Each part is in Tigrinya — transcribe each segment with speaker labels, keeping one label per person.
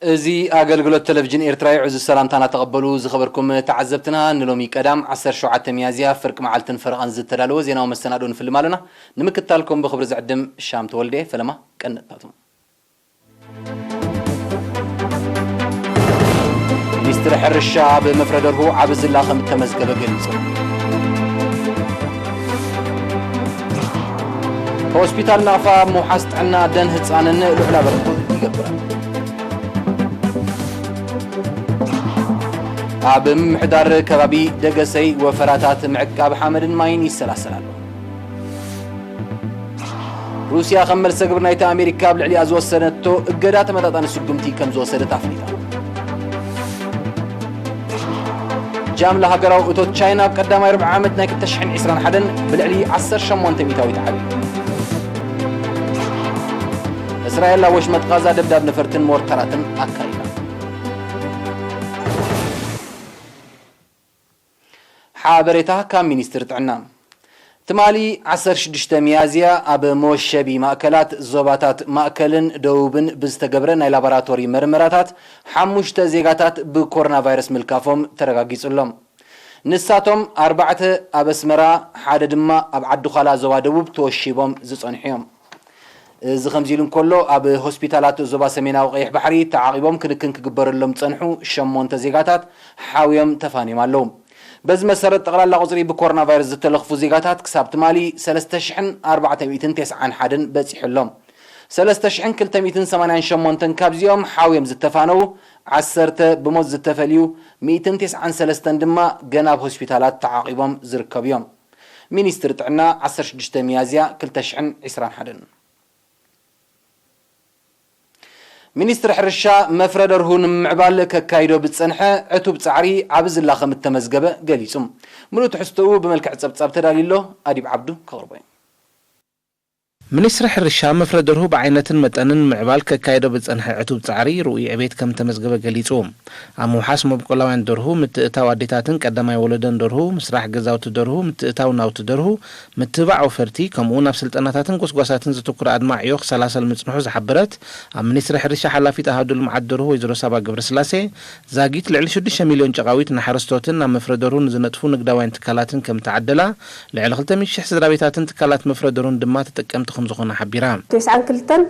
Speaker 1: እዚ ኣገልግሎት ተለቪጅን ኤርትራ እዩ። ዕዙዝ ሰላምታና ተቐበሉ። ዝኸበርኩም ተዓዘብትና፣ ንሎሚ ቀዳም ዓሰርተ ሸውዓተ ሚያዝያ ፍርቂ መዓልትን ፈረቓን ዝተዳለወ ዜናዊ መሰናድኦ ንፍልም ኣሎና። ንምክትታልኩም ብኽብሪ ዝዕድም ሻም ተወልደ፣ ፈለማ። ቀንድታቶም። ሚኒስትሪ ሕርሻ ኣብ መፍረደርሁ ዓቢ ዝላ ከም እተመዝገበ ገሊጹ። ሆስፒታል ናቕፋ ኣብ ምውሓስ ጥዕና ኣደን ህጻንን ልዑል ኣበርክቶ ይገብር። ኣብ ምምሕዳር ከባቢ ደገሰይ ወፈራታት ምዕቃብ ሓመድን ማይን ይሰላሰል ኣሎ። ሩስያ ከም መልሰ ግብሪ ናይቲ ኣሜሪካ ኣብ ልዕሊኣ ዝወሰነቶ እገዳ ተመጣጣኒ ስጉምቲ ከም ዝወሰደት ኣፍሊጣ። ጃምላ ሃገራዊ እቶት ቻይና ኣብ ቀዳማይ ርብዒ ዓመት ናይ 2021 ብልዕሊ 18 ሚታዊት ዓብዩ። እስራኤል ኣብ ወሽመጥ ቃዛ ደብዳብ ነፈርትን ሞርታራትን ኣካይዳ። ሓበሬታ ካብ ሚኒስትሪ ጥዕና ትማሊ ዓሰርተ ሽዱሽተ ሚያዝያ ኣብ መወሸቢ ማእከላት ዞባታት ማእከልን ደቡብን ብዝተገብረ ናይ ላቦራቶሪ መርመራታት ሓሙሽተ ዜጋታት ብኮሮናቫይረስ ምልካፎም ተረጋጊጹ ኣሎ። ንሳቶም ኣርባዕተ ኣብ ኣስመራ ሓደ ድማ ኣብ ዓዲዃላ ዞባ ደቡብ ተወሺቦም ዝጸንሑ'ዮም። እዚ ከምዚ ኢሉ እንከሎ፣ ኣብ ሆስፒታላት ዞባ ሰሜናዊ ቀይሕ ባሕሪ ተዓቚቦም ክንክን ክግበረሎም ዝጸንሑ ሸሞንተ ዜጋታት ሓውዮም ተፋንዮም ኣለዉ። በዚ መሰረት ጠቕላላ ቁጽሪ ብኮሮናቫይረስ ዝተለኽፉ ዜጋታት ክሳብ ትማሊ ሰለስተ ሽሕን ኣርባዕተ ሚእትን ተስዓን ሓደን በጺሑ ኣሎ። ሰለስተ ሽሕን ክልተ ሚእትን ሰማንያን ሸሞንተን ካብዚኦም ሓውዮም ዝተፋነዉ ዓሰርተ ብሞት ዝተፈልዩ ሚእትን ተስዓን ሰለስተን ድማ ገና ኣብ ሆስፒታላት ተዓቚቦም ዝርከቡ'ዮም። ሚኒስትሪ ጥዕና ዓሰርተ ሽዱሽተ ሚያዝያ ክልተ ሽሕን ዕስራን ሓደን። ሚኒስትሪ ሕርሻ፣ መፍረ ደርሁ ንምምዕባል ከካይዶ ብዝጸንሐ ዕቱብ ጻዕሪ ዓቢ ዝላ ከምእተመዝገበ ገሊጹ። ምሉእ ትሕዝቶኡ ብመልክዕ ጸብጻብ ተዳልዩ'ሎ፣ ኣዲብ ዓብዱ ከቕርቦ'ዩ። ሚኒስትሪ
Speaker 2: ሕርሻ፣ መፍረ ደርሁ ብዓይነትን መጠንን ንምምዕባል ከካይዶ ብዝጸንሐ ዕቱብ ጻዕሪ ርኡይ ዕቤት ከምዝተመዝገበ ገሊጹ። ኣብ ምውሓስ መብቆላውያን ደርሁ፣ ምትእትታው ኣዴታትን ቀዳማይ ወለዶን ደርሁ፣ ምስራሕ ገዛውቲ ደርሁ፣ ምትእትታው ናውቲ ደርሁ፣ ምትብባዕ ወፈርቲ፣ ከምኡ'ውን ኣብ ስልጠናታትን ጎስጓሳትን ዘተኩረ ኣድማዒ ዕዮ ክሰላሰል ምጽንሑ ዝሓበረት ኣብ ሚኒስትሪ ሕርሻ ሓላፊት ኣሃዱ ልምዓት ደርሁ ወይዘሮ ሳባ ገብረስላሴ፣ ዛጊት ልዕሊ ሽዱሽተ ሚልዮን ጨቓዊት ንሓረስቶትን ናብ መፍረ ደርሁ ንዝነጥፉ ንግዳውያን ትካላትን ከምእተዓደላ ልዕሊ ክልተ ሚእቲ ሽሕ ስድራቤታትን ትካላት መፍረ ደሩን ድማ ተጠቀምቲ ከምዝኾና ሓቢራ። ቴስዓን ክልተን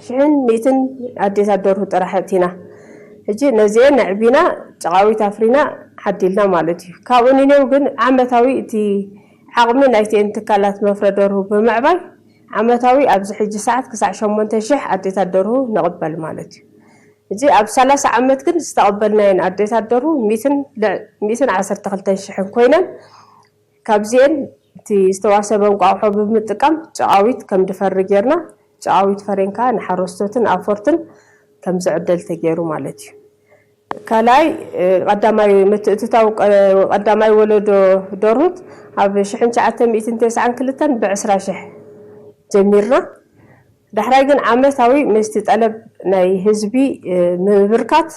Speaker 3: ሽሕን ሚእትን ኣዴታት ደርሁ ጥራሕ እእቲና። ሕጂ ነዚኤን ኣዕቢና ጨቓዊት ኣፍሪና ዓዲልና ማለት እዩ። ካብኡ ንኔው ግን ዓመታዊ እቲ ዓቕሚ ናይቲኤን ትካላት መፍረ ደርሁ ብምዕባይ ዓመታዊ ኣብዚ ሕጂ ሰዓት ክሳዕ ሸሞንተ ሽሕ ኣዴታት ደርሁ ንቕበል ማለት እዩ። ሕጂ ኣብ ሰላሳ ዓመት ግን ዝተቐበልናየን ኣዴታት ደርሁ ሚእትን ሚእትን ዓሰርተ ክልተን ሽሕን ኮይነን ካብዚኤን እቲ ዝተዋሰበ እንቋቑሖ ብምጥቃም ጨዓዊት ከምድፈሪ ጌርና ጨዓዊት ፈሬን ከኣ ንሓረስቶትን ኣውፈርትን ከምዝዕደል ተጌሩ ማለት እዩ። ካልኣይ ቐዳማይ ምትእትታው ቐዳማይ ወለዶ ደርሁት ኣብ ሽሕን ትሽዓተ ሚእትን ተስዓን ክልተን ብዕስራ ሽሕ ጀሚርና ዳሕራይ ግን ዓመታዊ ምስቲ ጠለብ ናይ ህዝቢ ብምብርካት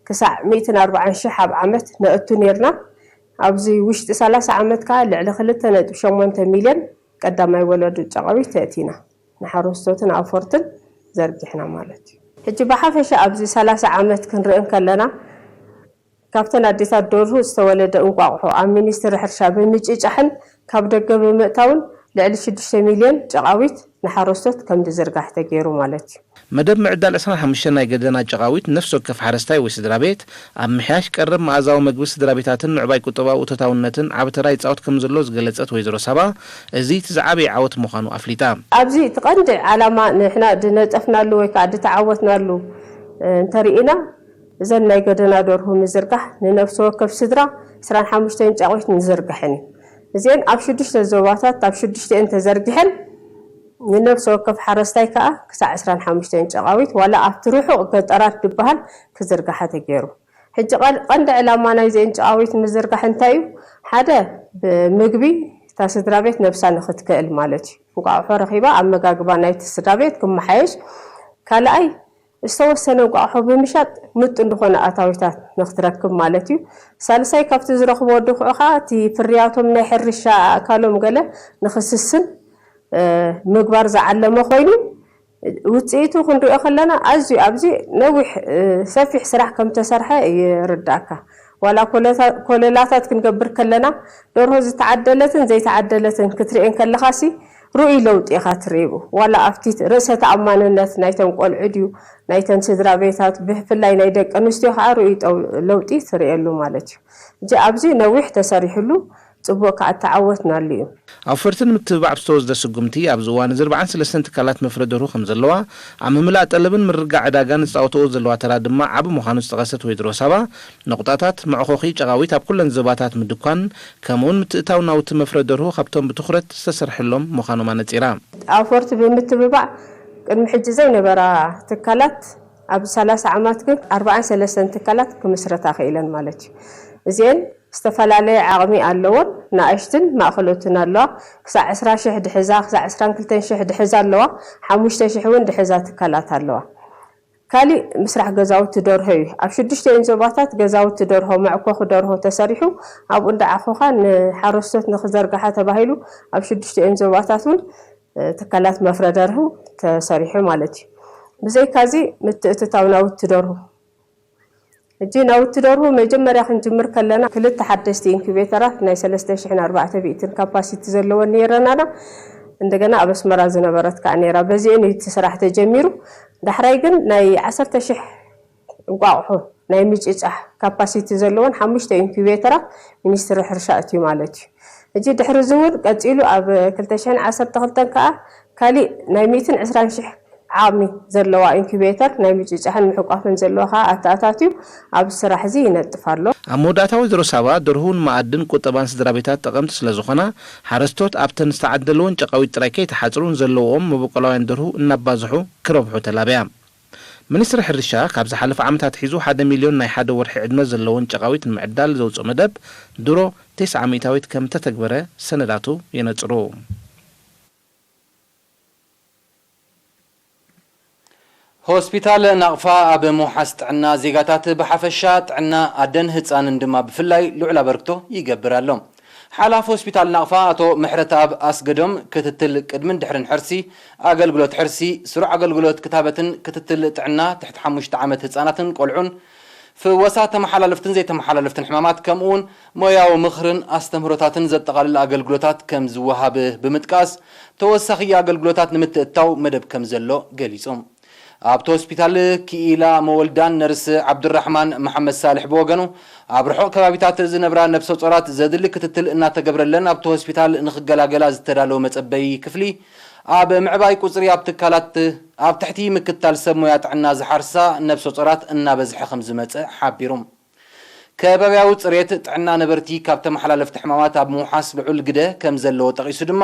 Speaker 3: ክሳዕ ሚእትን ኣርባዓን ሽሕ ኣብ ዓመት ነእቱ ኔርና ኣብዚ ውሽጢ ሰላሳ ዓመት ከኣ ልዕሊ ክልተ ነጥቢ ሸሞንተ ሚልዮን ቀዳማይ ወለዶ ጨቓዊት ኣእቲና፣ ንሓረስቶትን ኣውፈርትን ዘርጊሕና ማለት እዩ። ሕጂ ብሓፈሻ ኣብዚ ሰላሳ ዓመት ክንርኢ እንከለና፣ ካብተን ኣዴታት ደርሁ ዝተወለደ እንቋቑሖ ኣብ ሚኒስትሪ ሕርሻ ብምጭጫሕን ካብ ደገ ብምእታውን ልዕሊ ሽዱሽተ ሚልዮን ጨቓዊት ንሓረስቶት ከምዝዝርጋሕ ተገይሩ ማለት እዩ። መደብ ምዕዳል ዕስራን
Speaker 2: ሓሙሽተን ናይ ገደና ጨቓዊት ነፍሲ ወከፍ ሓረስታይ ወይ ስድራቤት ኣብ ምሕያሽ ቀረብ መኣዛዊ መግቢ ስድራቤታትን ምዕባይ ቁጠባዊ እቶታውነትን ዓቢ ተራ ይጻወት ከምዘሎ ዝገለጸት ወይዘሮ ሳባ እዚ እቲ ዝዓበየ ዓወት ምዃኑ ኣፍሊጣ። ኣብዚ እቲ ቀንዲ
Speaker 3: ዓላማ ንሕና ድነጠፍናሉ ወይ ከኣ ድተዓወትናሉ እንተርኢና፣ እዘን ናይ ገደና ደርሁ ምዝርጋሕ ንነፍሲ ወከፍ ስድራ ዕስራን ሓሙሽተን ጫቚት ንዝርግሐን እዩ። እዚኤን ኣብ ሽዱሽተ ዞባታት ኣብ ሽዱሽተኤን ተዘርጊሐን ንነፍሲ ወከፍ ሓረስታይ ከኣ ክሳዕ ዕስራን ሓሙሽተን ጨቓዊት ዋላ ኣብቲ ርሑቕ ገጠራት ድበሃል ክዝርጋሓ ተገይሩ። ሕጂ ቀንዲ ዕላማ ናይዚኤን ጨቓዊት ምዝርጋሕ እንታይ እዩ? ሓደ ብምግቢ እታ ስድራቤት ነብሳ ንኽትክእል ማለት እዩ። እንቋቑሖ ረኺባ ኣመጋግባ ናይቲ ስድራቤት ክመሓየሽ፣ ካልኣይ ዝተወሰነ እንቋቑሖ ብምሻጥ ምጡን ዝኾነ ኣታዊታት ንክትረክብ ማለት እዩ። ሳልሳይ ካብቲ ዝረኽብዎ ድኹዒ ከኣ እቲ ፍርያቶም ናይ ሕርሻ ኣእካሎም ገለ ንክስስን ምግባር ዝዓለመ ኮይኑ ውጽኢቱ ክንሪኦ ከለና ኣዝዩ ኣብዚ ነዊሕ ሰፊሕ ስራሕ ከምተሰርሐ ይርድኣካ። ዋላ ኮለላታት ክንገብር ከለና ደርሆ ዝተዓደለትን ዘይተዓደለትን ክትርኤን ከለኻሲ ርኡይ ለውጢ ኢኻ ትርኢብ። ዋላ ኣብቲ ርእሰ ተኣማንነት ናይተን ቆልዑ ድዩ ናይተን ስድራቤታት ብፍላይ ናይ ደቂ ኣንስትዮ ከኣ ርኡይ ለውጢ ትርእየሉ ማለት እዩ። እጂ ኣብዚ ነዊሕ ተሰሪሑሉ ጽቡቅ ከኣ ተዓወትናሉ እዩ። ኣውፈርቲ ንምትብባዕ
Speaker 2: ብዝተወስደ ስጉምቲ ኣብዚ እዋን'ዚ ኣርብዓን ሰለስተን ትካላት መፍረ ደርሁ ከምዘለዋ፣ ኣብ ምምላእ ጠለብን ምርግጋዕ ዕዳጋን ዝጻወተኦ ዘለዋ ተራ ድማ ዓቢ ምዃኑ ዝጠቐሰ ተወይድሮ ሳባ፣ ነቑጣታት መዕኾኺ ጨቓዊት ኣብ ኩለን ዞባታት ምድኳን ከምኡውን ምትእታው ናውቲ መፍረ ደርሁ ካብቶም ብትኹረት ዝተሰርሐሎም ምዃኖም ኣነጺራ። ኣውፈርቲ
Speaker 3: ብምትብባዕ ቅድሚ ሕጂ ዘይነበራ ትካላት ኣብዚ ሰላሳ ዓማት ግን ኣርባዓን ሰለስተን ትካላት ክምስረታ ክኢለን ማለት እዩ። እዚኤን ዝተፈላለየ ዓቕሚ ኣለዎን ንኣሽትን ማእኸሎትን ኣለዋ። ክሳዕ ዕስራ ሽሕ ድሕዛ ክሳዕ ዕስራን ክልተን ሽሕ ድሕዛ ኣለዋ። ሓሙሽተ ሽሕ እውን ድሕዛ ትካላት ኣለዋ። ካሊእ ምስራሕ ገዛውቲ ደርሆ እዩ። ኣብ ሽዱሽቲኤን ዞባታት ገዛውቲ ደርሆ፣ መዕኮኺ ደርሆ፣ ተሰሪሑ ኣብኡ እንዳዓኾኻ ንሓረስቶት ንክዘርግሓ ተባሂሉ ኣብ ሽዱሽቲኤን ዞባታት እውን ትካላት መፍረ ደርሁ ተሰሪሑ ማለት እዩ። ብዘይካዚ ምትእትታው ናውቲ ደርሁ ሕጂ ናውቲ ደርሁ መጀመርያ ክንጅምር ከለና ክልተ ሓደሽቲ ኢንኩቤተራት ናይ ሰለስተ ሽሕን ኣርባዕተ ሚእትን ካፓሲቲ ዘለወን ነይረን ኣና እንደገና ኣብ ኣስመራ ዝነበረት ከኣ ነይራ በዚኤን እዩ እቲ ስራሕ ተጀሚሩ ዳሕራይ ግን ናይ ዓሰርተ ሽሕ እንቋቑሖ ናይ ምጭጫሕ ካፓሲቲ ዘለወን ሓሙሽተ ኢንኩቤተራት ሚኒስትሪ ሕርሻ እትዩ ማለት እዩ ሕጂ ድሕሪ እዚ እውን ቀጺሉ ኣብ ክልተ ሽሕን ዓሰርተ ክልተን ከኣ ካሊእ ናይ ሚእትን ዕስራን ሽሕ ዓቕሚ ዘለዋ ኢንኩቤተር ናይ ምጭጫሕን ምሕቋፍን ዘለዋ ከኣ ኣተኣታትዩ ኣብዚ ስራሕ'ዚ ይነጥፍ ኣሎ። ኣብ መወዳእታ ወይዘሮ
Speaker 2: ሳባ ደርሁ ንመኣድን ቁጠባን ስድራቤታት ጠቐምቲ ስለዝኾና ሓረስቶት ኣብተን ዝተዓደለወን ጨቓዊት ጥራይ ከይተሓጽሩ ንዘለውኦም መበቆላውያን ደርሁ እናባዝሑ ክረብሑ ተላብያ። ሚኒስትሪ ሕርሻ ካብ ዝሓለፈ ዓመት ኣትሒዙ ሓደ ሚልዮን ናይ ሓደ ወርሒ ዕድመ ዘለወን ጨቓዊት ንምዕዳል ዘውጽኦ መደብ ድሮ ቴስዓ ሚእታዊት ከምእተተግበረ ሰነዳቱ የነጽሩ።
Speaker 1: ሆስፒታል ናቕፋ ኣብ ምውሓስ ጥዕና ዜጋታት ብሓፈሻ፣ ጥዕና ኣደን ህጻንን ድማ ብፍላይ ልዑል ኣበርክቶ ይገብር ኣሎ። ሓላፊ ሆስፒታል ናቕፋ ኣቶ ምሕረተኣብ ኣስገዶም፣ ክትትል ቅድምን ድሕርን ሕርሲ፣ ኣገልግሎት ሕርሲ፣ ስሩዕ ኣገልግሎት ክታበትን ክትትል ጥዕና ትሕቲ ሓሙሽተ ዓመት ህጻናትን ቆልዑን፣ ፍወሳ ተመሓላለፍትን ዘይተመሓላለፍትን ሕማማት ከምኡ'ውን ሞያዊ ምኽርን ኣስተምህሮታትን ዘጠቓልል ኣገልግሎታት ከም ዝወሃብ ብምጥቃስ፣ ተወሳኺ ኣገልግሎታት ንምትእትታው መደብ ከም ዘሎ ገሊጾም። ኣብቲ ሆስፒታል ክኢላ መወልዳን ነርስ ዓብዱራሕማን መሓመድሳልሕ ብወገኑ፣ ኣብ ርሑቕ ከባቢታት ዝነብራ ነብሰጾራት ዘድሊ ክትትል እናተገብረለን ኣብቲ ሆስፒታል ንኽገላገላ ዝተዳለወ መጸበዪ ክፍሊ ኣብ ምዕባይ ቁፅሪ ኣብ ትካላት ኣብ ትሕቲ ምክትታል ሰብ ሞያ ጥዕና ዝሓርሳ ነብሰፆራት እናበዝሐ ከምዝመፀ ሓቢሮም። ከባብያዊ ፅሬት ጥዕና ነበርቲ ካብ ተመሓላለፍቲ ሕማማት ኣብ ምውሓስ ልዑል ግደ ከምዘለዎ ጠቒሱ ድማ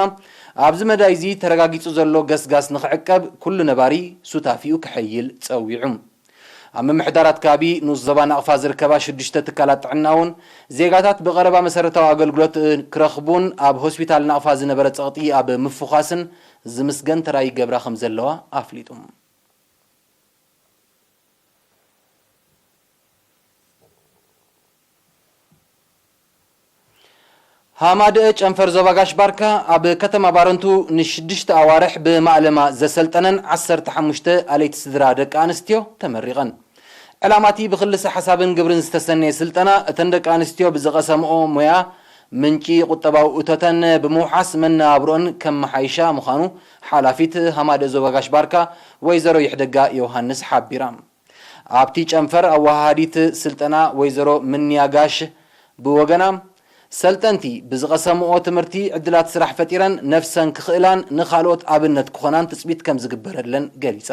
Speaker 1: ኣብዚ መዳይ እዚ ተረጋጊፁ ዘሎ ገስጋስ ንኽዕቀብ ኩሉ ነባሪ ሱታፊኡ ከሐይል ፀዊዑ። ኣብ ምምሕዳራት ከባቢ ንኡስ ዞባ ናቕፋ ዝርከባ ሽዱሽተ ትካላት ጥዕና'ውን፣ ዜጋታት ብቐረባ መሰረታዊ ኣገልግሎት ክረኽቡን ኣብ ሆስፒታል ናቕፋ ዝነበረ ጸቕጢ ኣብ ምፍዃስን ዝምስገን ተራ ይገብራ ከምዘለዋ ኣፍሊጡ። ሃማደኤ ጨንፈር ዞባ ጋሽ ባርካ ኣብ ከተማ ባረንቱ ንሽዱሽተ ኣዋርሕ ብማእለማ ዘሰልጠነን ዓሰርተ ሓሙሽተ ኣለይቲ ስድራ ደቂ ኣንስትዮ ተመሪቐን። ዕላማ'ቲ ብክልሰ ሓሳብን ግብርን ዝተሰነየ ስልጠና እተን ደቂ ኣንስትዮ ብዝቐሰምኦ ሞያ ምንጪ ቁጠባዊ እቶተን ብምውሓስ መነባብሮኣን ከመሓይሻ ምዃኑ ሓላፊት ሃማደኤ ዞባ ጋሽ ባርካ ወይዘሮ ይሕደጋ ዮውሃንስ ሓቢራ። ኣብቲ ጨንፈር ኣወሃሃዲት ስልጠና ወይዘሮ ምንያ ጋሽ ብወገና፣ ሰልጠንቲ ብዝቐሰምኦ ትምህርቲ ዕድላት ስራሕ ፈጢረን ነፍሰን ክኽእላን ንኻልኦት ኣብነት ክኾናን ትፅቢት ከምዝግበረለን ገሊፃ።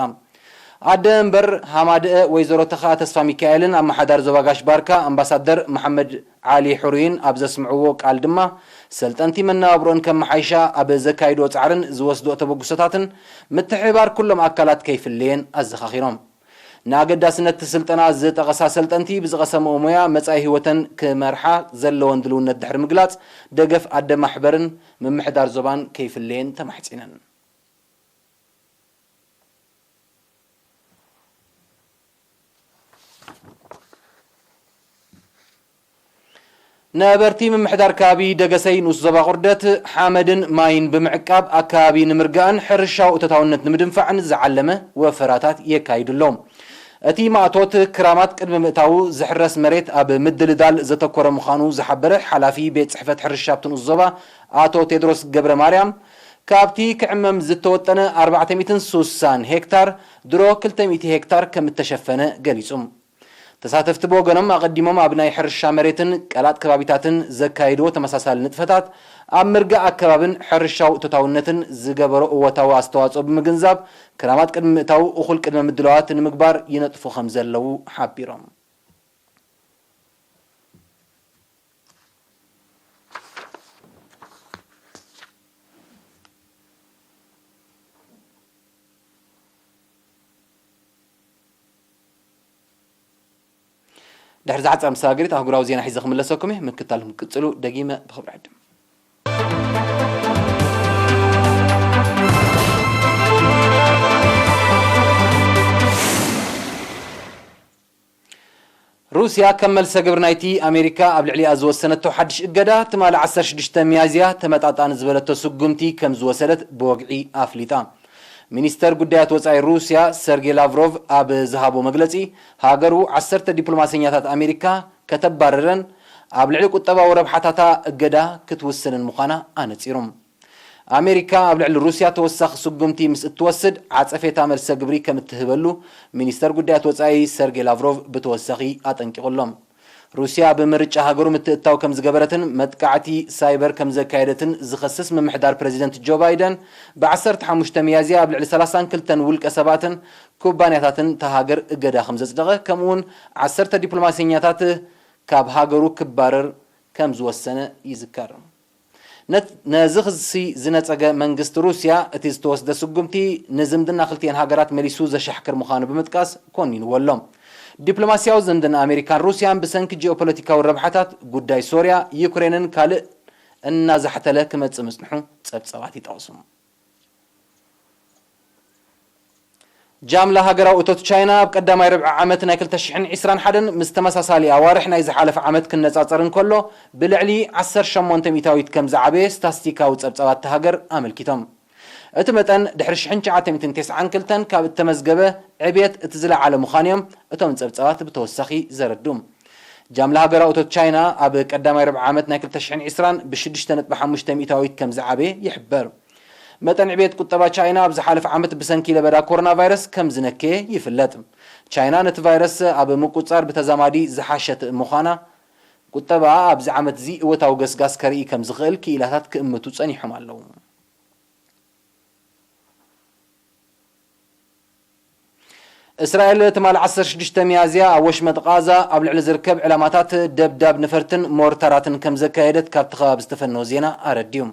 Speaker 1: ኣደ እንበር ሃማደኤ ወይዘሮ ተኽኣ ተስፋሚካኤልን ኣመሓዳሪ ዞባ ጋሽ ባርካ ኣምባሳደር መሓመድ ዓሊ ሕሩይን ኣብ ዘስምዕዎ ቃል ድማ፣ ሰልጠንቲ መነባብሮኣን ከመሓይሻ ኣብ ዘካይድኦ ጻዕርን ዝወስድኦ ተበግሶታትን ምትሕብባር ኩሎም ኣካላት ከይፍለየን ኣዘኻኺሮም። ንኣገዳስነት'ቲ ስልጠና ዝጠቐሳ ሰልጠንቲ ብዝቐሰምኦ ሞያ መጻኢ ህይወተን ክመርሓ ዘለወን ድልውነት ድሕሪ ምግላጽ፣ ደገፍ ኣደ ማሕበርን ምምሕዳር ዞባን ከይፍለየን ተማሕጺነን። ነበርቲ ምምሕዳር ከባቢ ደገሰይ ንኡስ ዞባ ቁርደት፣ ሓመድን ማይን ብምዕቃብ ኣከባቢ ንምርጋእን ሕርሻዊ እቶታውነት ንምድንፋዕን ዝዓለመ ወፈራታት የካይዱ ኣለዉ። እቲ ማእቶት፣ ክራማት ቅድሚ ምእታዉ ዝሕረስ መሬት ኣብ ምድልዳል ዘተኮረ ምዃኑ ዝሓበረ ሓላፊ ቤት ጽሕፈት ሕርሻ ኣብቲ ንኡስ ዞባ ኣቶ ቴድሮስ ገብረማርያም፣ ካብቲ ክዕመም ዝተወጠነ ኣርባዕተ ሚእትን ሱሳን ሄክታር ድሮ ክልተ ሚእቲ ሄክታር ከም እተሸፈነ ገሊጹ። ተሳተፍቲ ብወገኖም ኣቐዲሞም ኣብ ናይ ሕርሻ መሬትን ቀላጥ ከባቢታትን ዘካየድዎ ተመሳሳሊ ንጥፈታት፣ ኣብ ምርጋእ ኣከባብን ሕርሻዊ እቶታውነትን ዝገበሮ እወታዊ ኣስተዋጽኦ ብምግንዛብ፣ ክራማት ቅድሚ ምእታዉ እኹል ቅድመ ምድላዋት ንምግባር ይነጥፉ ከም ዘለዉ ሓቢሮም። ድሕሪ ዝሓፀረ መሰጋገሪት ኣህጉራዊ ዜና ሒዘ ክምለሰኩም እየ ምክታልኩም ክቅፅሉ ደጊመ ብክብሪ ዕድም ሩስያ ከም መልሰ ግብሪ ናይቲ ኣሜሪካ ኣብ ልዕሊኣ ዝወሰነቶ ሓድሽ እገዳ፣ ትማሊ ዓሰርተ ሽዱሽተ ሚያዝያ ተመጣጣኒ ዝበለቶ ስጉምቲ ከም ዝወሰደት ብወግዒ ኣፍሊጣ። ሚኒስተር ጉዳያት ወጻኢ ሩስያ ሰርጌ ላቭሮቭ ኣብ ዝሃቦ መግለጺ፣ ሃገሩ ዓሰርተ ዲፕሎማሰኛታት ኣሜሪካ ከተባርርን ኣብ ልዕሊ ቁጠባዊ ረብሓታታ እገዳ ክትውስንን ምዃና ኣነጺሩ። ኣሜሪካ ኣብ ልዕሊ ሩስያ ተወሳኺ ስጉምቲ ምስ እትወስድ ዓጸፌታ መልሰ ግብሪ ከም እትህበሉ ሚኒስተር ጉዳያት ወጻኢ ሰርጌ ላቭሮቭ ብተወሳኺ ኣጠንቂቑ ኣሎ። ሩስያ ብምርጫ ሃገሩ ምትእትታው ከም ዝገበረትን መጥቃዕቲ ሳይበር ከም ዘካየደትን ዝኸስስ ምምሕዳር ፕረዚደንት ጆ ባይደን ብ ዓሰርተ ሓሙሽተ ሚያዝያ ኣብ ልዕሊ ሰላሳን ክልተን ውልቀ ሰባትን ኩባንያታትን እታ ሃገር እገዳ ከም ዘጽደቐ ከምኡ'ውን ዓሰርተ ዲፕሎማሰኛታት ካብ ሃገሩ ክባረር ከም ዝወሰነ ይዝከር። ነዚ ክሲ ዝነጸገ መንግስቲ ሩስያ፣ እቲ ዝተወስደ ስጉምቲ ንዝምድና ክልቲኤን ሃገራት መሊሱ ዘሻሕክር ምዃኑ ብምጥቃስ ኮኒንዎ ኣሎ። ዲፕሎማስያዊ ዝምድና ኣመሪካን ሩስያን ብሰንኪ ጂኦፖለቲካዊ ረብሓታት ጉዳይ ሶርያ፣ ዩክሬንን ካልእን እናዛሕተለ ክመጽእ ምጽንሑ ጸብጻባት ይጠቕሱ። ጃምላ ሃገራዊ እቶት ቻይና ኣብ ቀዳማይ ርብዒ ዓመት ናይ ክልተ ሽሕን ዕስራን ሓደን ምስ ተመሳሳሊ ኣዋርሕ ናይ ዝሓለፈ ዓመት ክነጻጸር እንከሎ ብልዕሊ ዓሰርተ ሸሞንተ ሚእታዊት ከም ዝዓበየ ስታስቲካዊ ጸብጻባት እታ ሃገር ኣመልኪቶም። እቲ መጠን ድሕሪ ሽሕን ትሽዓተ ሚእትን ተስዓን ክልተን ካብ እተመዝገበ ዕብየት እቲ ዝለዓለ ምዃኑ'ዮም እቶም ጸብጻባት ብተወሳኺ ዘረድኡ። ጃምላ ሃገራዊ እቶት ቻይና ኣብ ቀዳማይ ርብዒ ዓመት ናይ ክልተ ሽሕን ዕስራን ብሽዱሽተ ነጥቢ ሓሙሽተ ሚእታዊት ከምዝዓበየ ይሕበር። መጠን ዕብየት ቁጠባ ቻይና ኣብ ዝሓለፈ ዓመት ብሰንኪ ለበዳ ኮሮናቫይረስ ከምዝነከየ ይፍለጥ። ቻይና ነቲ ቫይረስ ኣብ ምቁጽጻር ብተዛማዲ ዝሓሸት ምዃና፣ ቁጠባኣ ኣብዚ ዓመት'ዚ እወታዊ ገስጋስ ከርኢ ከምዝኽእል ክኢላታት ክእምቱ ጸኒሖም ኣለዉ። እስራኤል ትማል ዓሰርተ ሽዱሽተ ሚያዝያ ኣብ ወሽመጥ ቓዛ ኣብ ልዕሊ ዝርከብ ዕላማታት ደብዳብ ነፈርትን ሞርታራትን ከምዘካየደት ካብቲ ከባቢ ዝተፈነወ ዜና ኣረዲኡ።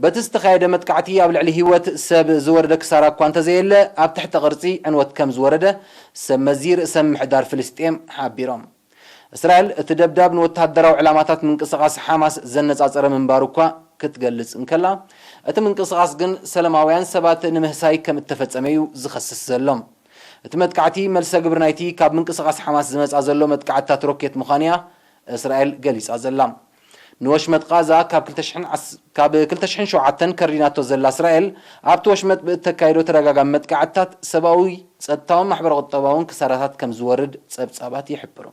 Speaker 1: በቲ ዝተኻየደ መጥቃዕቲ ኣብ ልዕሊ ህይወት ሰብ ዝወረደ ክሳራ እኳ እንተዘየለ ኣብ ትሕተ ቅርጺ ዕንወት ከምዝወረደ ሰብመዚ ርእሰ ምምሕዳር ፍልስጤም ሓቢሮም። እስራኤል፣ እቲ ደብዳብ ንወተሃደራዊ ዕላማታት ምንቅስቓስ ሓማስ ዘነጻጸረ ምንባሩ እኳ ክትገልጽ እንከላ፣ እቲ ምንቅስቓስ ግን ሰለማውያን ሰባት ንምህሳይ ከም እተፈጸመ'ዩ ዝኸስስ ዘሎ። እቲ መጥቃዕቲ መልሰ ግብሪ ናይቲ ካብ ምንቅስቓስ ሓማስ ዝመጽኣ ዘሎ መጥቃዕትታት ሮኬት ምዃኑ'ያ እስራኤል ገሊጻ ዘላ። ንወሽመጥ ቓዛ ካብ ክልተ ሽሕን ካብ ክልተ ሽሕን ሸውዓተን ከሪናቶ ዘላ እስራኤል፣ ኣብቲ ወሽመጥ ብእተካይዶ ተደጋጋሚ መጥቃዕትታት ሰብኣዊ፣ ጸጥታውን ማሕበረ-ቁጠባውን ክሳራታት ከም ዝወርድ ጸብጻባት ይሕብሩ።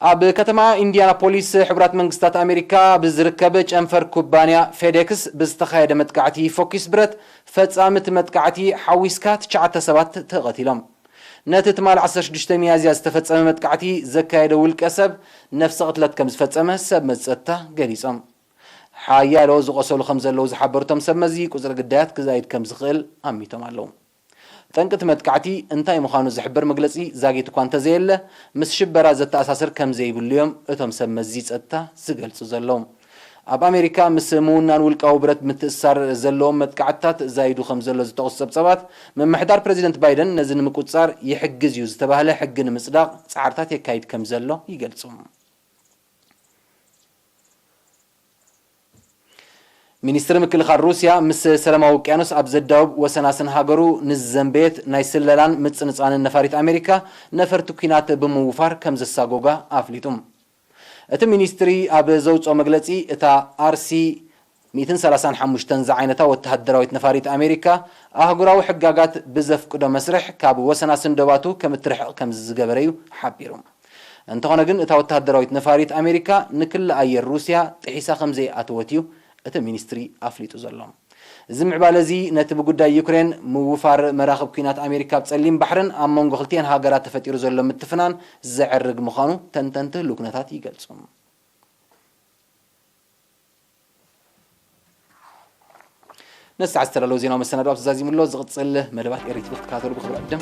Speaker 1: ኣብ ከተማ ኢንዲያናፖሊስ ሕቡራት መንግስታት ኣሜሪካ ኣብ ዝርከብ ጨንፈር ኩባንያ ፌዴክስ ብዝተኻየደ መጥቃዕቲ ፎኪስ ብረት ፈፃሚ እቲ መጥቃዕቲ ሓዊስካ ትሽዓተ ሰባት ተቐቲሎም። ነቲ ትማል ዓሰርተ ሽዱሽተ ሚያዝያ ዝተፈፀመ መጥቃዕቲ ዘካየደ ውልቀ ሰብ ነፍሰ ቅትለት ከምዝፈፀመ ሰብ መዚ ፀጥታ ገሊፆም። ሓያሎ ዝቖሰሉ ከምዘለዉ ዝሓበሩ እቶም ሰብ መዚ ቁፅሪ ግዳያት ክዛይድ ከምዝኽእል ኣሚቶም ኣለዉ። ጠንቂ እቲ መጥቃዕቲ እንታይ ምዃኑ ዝሕብር መግለጺ ዛጊት እኳ እንተዘየለ፣ ምስ ሽበራ ዘተኣሳስር ከም ዘይብሉ'ዮም እቶም ሰብ መዚ ጸጥታ ዝገልጹ ዘለዉ። ኣብ ኣሜሪካ ምስ ምውናን ውልቃዊ ብረት ምትእስሳር ዘለዎም መጥቃዕትታት ዛይዱ ከም ዘሎ ዝጠቕሱ ጸብጻባት፣ ምምሕዳር ፕረዚደንት ባይደን ነዚ ንምቁጽጻር ይሕግዝ'ዩ ዝተባህለ ሕጊ ንምጽዳቕ ጻዕርታት የካይድ ከም ዘሎ ይገልጹ። ሚኒስትሪ ምክልኻል ሩስያ ምስ ሰለማዊ ውቅያኖስ ኣብ ዘዳውብ ወሰናስን ሃገሩ ንዝዘንበየት ናይ ስለላን ምጽንጻንን ነፋሪት ኣሜሪካ ነፈርቲ ኲናት ብምውፋር ከምዘሳጎጋ ኣፍሊጡ። እቲ ሚኒስትሪ ኣብ ዘውጽኦ መግለጺ እታ ኣርሲ ሚእትን ሰላሳን ሓሙሽተን ዝዓይነታ ወተሃደራዊት ነፋሪት ኣሜሪካ ኣህጉራዊ ሕጋጋት ብዘፍቅዶ መስርሕ ካብ ወሰናስን ዶባቱ ከምትርሕቕ ከምዝዝገበረ'ዩ ሓቢሩ። እንተኾነ ግን እታ ወተሃደራዊት ነፋሪት ኣሜሪካ ንክሊ ኣየር ሩስያ ጥሒሳ ከምዘይኣተወት እዩ እቲ ሚኒስትሪ ኣፍሊጡ ዘሎ። እዚ ምዕባለ እዚ ነቲ ብጉዳይ ዩክሬን ምውፋር መራኽብ ኲናት ኣሜሪካ ኣብ ጸሊም ባሕርን ኣብ መንጎ ክልቲኤን ሃገራት ተፈጢሩ ዘሎ ምትፍናን ዘዕርግ ምዃኑ ተንተንቲ ህሉው ኩነታት ይገልጹ። ነዚ ሰዓት ዝተዳለወ ዜናዊ መሰናዶ ኣብዚ ዛዚሙ ኣሎ። ዝቕፅል መደባት ኤሪ ቲቪ ክትከታተሉ ብክብሪ ዕድም